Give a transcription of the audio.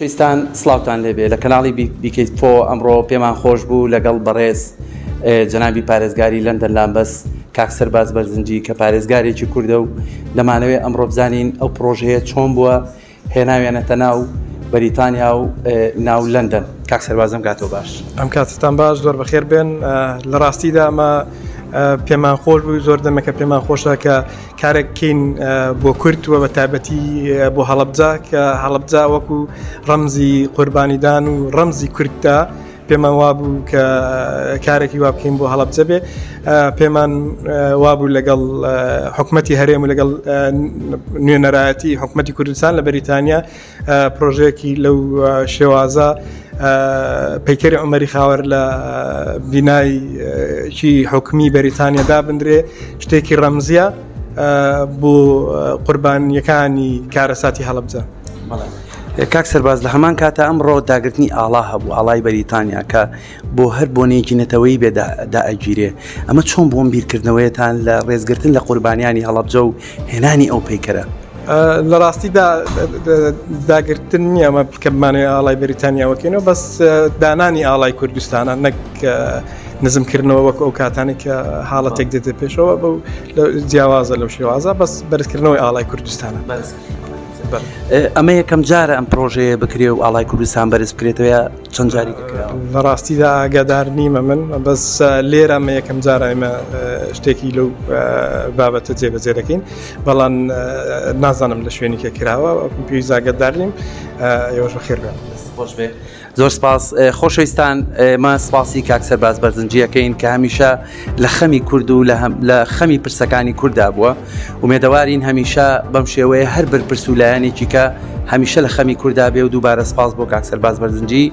پێستان سڵاوتان لێ بێ لە کەناڵی بی کەی فۆ ئەمڕۆ پێمان خۆش بوو لەگەڵ بەڕێز جەنابی پارێزگاری لەندەن لامبەس کاک سەرباز بەرزنجی کە پارێزگارێکی کوردە و دەمانەوێ ئەمڕۆ بزانین ئەو پرۆژەیە چۆن بووە هێناوێنەتە ناو بەریتانیا و ناو لەندەن کاک سەربازم کاتۆ باش ئەم کاتتان باش زۆر بەخێر بێن لە ڕاستیدا ئەمە پێمان خۆش بووی زۆر دەمەکە پێمان خۆشە کە کارێک کین بۆ کورد و بە تابەتی بۆ هەڵبجا کە هەڵبجا وەکو ڕەمزی قوربانیدان و ڕەمزی کورددا پێمان وابوو کە کارێکی وا بکەین بۆ هەڵبجە بێ پێمان وابوو لەگەڵ حکوومەتتی هەرێم و لەگەڵ نوێنەرایەتی حکوومەتتی کوردستان لە بەریتانیا پرۆژەیەکی لەو شێوازە پەیکەری ئەمەری خاوەر لە بینایکی حکومی بەریتانیا دابدرێ شتێکی ڕەمزیە بۆ قوربانیەکانی کارەساتی هەڵبجە. کاک سەرباز لە هەمان کاتە ئەمڕۆ داگرتنی ئاڵا هەبوو ئاڵای بەریتانیا کە بۆ هەر بۆنەیەکی نەتەوەی بێ دائەگیرێ ئەمە چۆن بۆم بیرکردنەوەیەتان لە ڕێزگرتن لە قوربانیانی هەڵەبجە و هێنانی ئەو پیکەرە لە ڕاستیدا داگرتن نییە ئەمە بکەمانێ ئاڵای بەریتانیاوەکەینەوە بەس دانانی ئاڵای کوردستانە نەک نزمکردنەوە وەک ئەو کاتانی کە حاڵەتێک دێتە پێشەوە بە جیاوازە لەو شێوازە بەس بەرزکردنەوەی ئاڵای کوردستانە بەرز. ئەمە یەکەم جارە ئەم پرۆژەیە بکرێ و ئاڵای کوردستان بەرز بکرێتەوە چەند جاری دەکراوە لە ڕاستیدا ئاگادار نیمە من بەس لێرە مە یەکەم جارایمە شتێکی لەو بابەتە جێبەجێ دەکەین بەڵام نازانم لە شوێنی کە کراوە پێوی زاگەدار نیم ئێوەش بە خێر بێت خۆش بێت زۆر سپاس خۆشەویستان ئێمە سپاسی کاک سەرباز بەرزنجیەکەین کە هەمیشە لە خەمی کورد و لە خەمی پرسەکانی کووردا بووە ومێدەوارین هەمیشە بەم شێوەیە هەر بەرپرس و لایەنێکی کە هەمیشە لە خەمی کووردا بێ و دووبارە سپاس بۆ کاک سەرباز بەرزنجی